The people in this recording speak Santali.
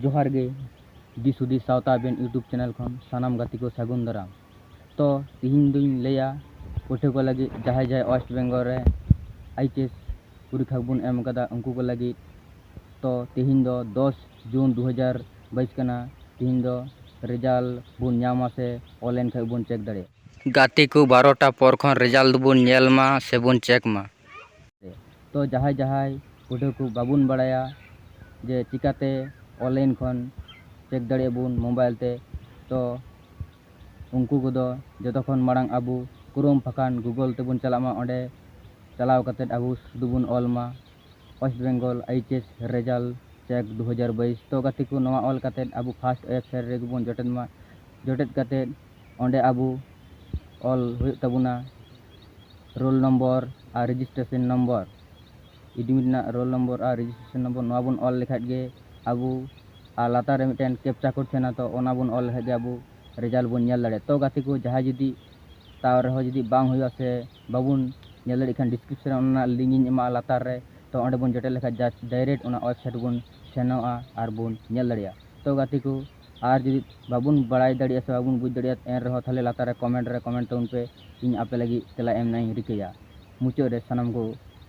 ᱡᱚᱦᱟᱨ ᱜᱮ ᱫᱤᱥ ᱦᱩᱫᱤᱥ ᱥᱟᱶᱛᱟ ᱟᱵᱮᱱ ᱤᱭᱩᱴᱩᱵᱽ ᱪᱮᱱᱮᱞ ᱠᱷᱚᱱ ᱥᱟᱱᱟᱢ ᱜᱟᱛᱮ ᱠᱚ ᱥᱟᱹᱜᱩᱱ ᱫᱟᱨᱟᱢ ᱛᱚ ᱛᱮᱦᱮᱧ ᱫᱚᱧ ᱞᱟᱹᱭᱟ ᱯᱟᱹᱴᱷᱩᱣᱟᱹ ᱠᱚ ᱞᱟᱹᱜᱤᱫ ᱡᱟᱦᱟᱸᱭ ᱡᱟᱦᱟᱸᱭ ᱳᱭᱮᱥᱴ ᱵᱮᱝᱜᱚᱞ ᱨᱮ ᱟᱭᱤᱪ ᱮᱥ ᱯᱚᱨᱤᱠᱠᱷᱟ ᱵᱚᱱ ᱮᱢ ᱠᱟᱫᱟ ᱩᱱᱠᱩ ᱠᱚ ᱞᱟᱹᱜᱤᱫ ᱛᱚ ᱛᱮᱦᱮᱧ ᱫᱚ ᱫᱚᱥ ᱡᱩᱱ ᱫᱩ ᱦᱟᱡᱟᱨ ᱵᱟᱭᱤᱥ ᱠᱟᱱᱟ ᱛᱤᱦᱤᱧ ᱫᱚ ᱨᱮᱡᱟᱞ ᱵᱚᱱ ᱧᱟᱢᱟ ᱥᱮ ᱚᱱᱞᱟᱭᱤᱱ ᱠᱷᱚᱡ ᱵᱚᱱ ᱪᱮᱠ ᱫᱟᱲᱮᱭᱟᱜ᱾ ᱜᱟᱛᱮ ᱠᱚ ᱵᱟᱨᱚ ᱴᱟ ᱯᱚᱨ ᱠᱷᱚᱱ ᱨᱮᱡᱟᱞ ᱫᱚᱵᱚᱱ ᱧᱮᱞ ᱢᱟ ᱥᱮ ᱵᱚᱱ ᱪᱮᱠ ᱢᱟ᱾ ᱛᱚ ᱡᱟᱦᱟᱭ ᱡᱟᱦᱟᱭ ᱯᱟᱹᱴᱷᱩᱣᱟᱹ ᱠᱚ ᱵᱟᱵᱚᱱ ᱵᱟᱲᱟᱭᱟ ᱡᱮ ᱪᱤᱠᱟ ᱛᱮ ᱚᱱᱞᱟᱭᱤᱱ ᱠᱷᱚᱱ ᱪᱮᱠ ᱫᱟᱲᱮᱭᱟᱜ ᱵᱚᱱ ᱢᱳᱵᱟᱭᱤᱞ ᱛᱮ ᱛᱚ ᱩᱱᱠᱩ ᱠᱚᱫᱚ ᱡᱚᱛᱚ ᱠᱷᱚᱱ ᱢᱟᱲᱟᱝ ᱟᱵᱚ ᱠᱨᱳᱢ ᱵᱟᱠᱷᱟᱱ ᱜᱩᱜᱚᱞ ᱛᱮᱵᱚᱱ ᱪᱟᱞᱟᱜ ᱢᱟ ᱚᱸᱰᱮ ᱪᱟᱞᱟᱣ ᱠᱟᱛᱮ ᱟᱵᱚ ᱥᱩᱫᱩ ᱵᱚᱱ ᱚᱞ ᱢᱟ᱾ West Bengal H S result check ᱫᱩ ᱦᱟᱡᱟᱨ ᱵᱟᱭᱤᱥ ᱛᱚ ᱜᱟᱛᱮ ᱠᱚ ᱱᱚᱣᱟ ᱚᱞ ᱠᱟᱛᱮ ᱟᱵᱚ ᱯᱷᱟᱥᱴ ᱳᱭᱮᱵᱽᱥᱟᱭᱤᱴ ᱨᱮᱜᱮ ᱵᱚᱱ ᱡᱚᱴᱮᱫ ᱢᱟ ᱡᱚᱴᱮᱫ ᱠᱟᱛᱮ ᱚᱸᱰᱮ ᱟᱵᱚ ᱚᱞ ᱦᱩᱭᱩᱜ ᱛᱟᱵᱚᱱᱟ ᱨᱳᱞ ᱱᱚᱢᱵᱚᱨ ᱟᱨ ᱨᱮᱡᱤᱥᱴᱨᱮᱥᱚᱱ ᱱᱚᱢᱵᱚᱨ ᱮᱰᱢᱤᱴ ᱨᱮᱱᱟᱜ ᱨᱳᱞ ᱱᱚᱢᱵᱚᱨ ᱟᱨ ᱨᱮᱡᱤᱥᱴᱨᱮᱥᱚᱱ ᱱᱚᱢᱵᱚᱨ ᱱᱚᱣᱟ ᱵᱚᱱ ᱚᱞ ᱞᱮᱠᱷᱟᱡ ᱜᱮ ᱟᱵᱚ ᱟᱨ ᱞᱟᱛᱟᱨ ᱨᱮ ᱢᱤᱫᱴᱮᱱ ᱠᱮᱯᱪᱟ ᱠᱳᱰ ᱛᱟᱦᱮᱱᱟ ᱛᱚ ᱚᱱᱟ ᱵᱚᱱ ᱚᱞ ᱞᱮᱠᱷᱟᱡ ᱜᱮ ᱟᱵᱚ ᱨᱮᱡᱟᱞᱴ ᱵᱚᱱ ᱧᱮᱞ ᱫᱟᱲᱮᱭᱟᱜᱼᱟ ᱛᱚ ᱜᱟᱛᱮ ᱠᱚ ᱡᱟᱦᱟᱸᱭ ᱡᱩᱫᱤ ᱛᱟᱣ ᱨᱮᱦᱚᱸ ᱡᱩᱫᱤ ᱵᱟᱝ ᱦᱩᱭᱩᱜᱼᱟ ᱥᱮ ᱵᱟᱵᱚᱱ ᱧᱮᱞ ᱫᱟᱲᱮᱭᱟᱜ ᱠᱷᱟᱱ ᱰᱤᱥᱠᱨᱤᱯᱥᱚᱱ ᱨᱮ ᱚᱱᱟ ᱨᱮᱱᱟᱜ ᱞᱤᱝᱠ ᱤᱧ ᱮᱢᱟᱜᱼᱟ ᱞᱟᱛᱟᱨ ᱨᱮ ᱛᱚ ᱚᱸᱰᱮ ᱵᱚᱱ ᱡᱚᱴᱮᱫ ᱞᱮᱠᱷᱟᱱ ᱡᱟᱥᱴ ᱰᱟᱭᱨᱮᱠᱴ ᱚᱱᱟ ᱳᱭᱮᱵᱽᱥᱟᱭᱤᱴ ᱵᱚᱱ ᱥᱮᱱᱚᱜᱼᱟ ᱟᱨ ᱵᱚᱱ ᱧᱮᱞ ᱫᱟᱲᱮᱭᱟᱜᱼᱟ ᱛᱚ ᱜᱟᱛᱮ ᱠᱚ ᱟᱨ ᱡᱩᱫᱤ ᱵᱟᱵᱚᱱ ᱵᱟᱲᱟᱭ ᱫᱟᱲᱮᱭᱟᱜᱼᱟ ᱥᱮ ᱵᱟᱵᱚᱱ ᱵᱩᱡᱽ ᱫᱟᱲᱮᱭᱟᱜᱼᱟ ᱮᱱ ᱨᱮᱦᱚᱸ ᱛᱟᱦᱚᱞᱮ ᱞᱟᱛᱟᱨ ᱨᱮ ᱠᱚᱢᱮᱱᱴ ᱨᱮ ᱠᱚᱢᱮᱱᱴ ᱛᱟᱵᱚᱱ ᱯᱮ ᱤᱧ ᱟᱯᱮ ᱞᱟᱹᱜᱤᱫ ᱛᱮᱞᱟ ᱮᱢ ᱨᱮᱱᱟᱜ ᱤᱧ ᱨᱤᱠᱟᱹᱭᱟ ᱢᱩᱪᱟᱹᱫ ᱨᱮ ᱥᱟᱱᱟᱢ ᱠᱚ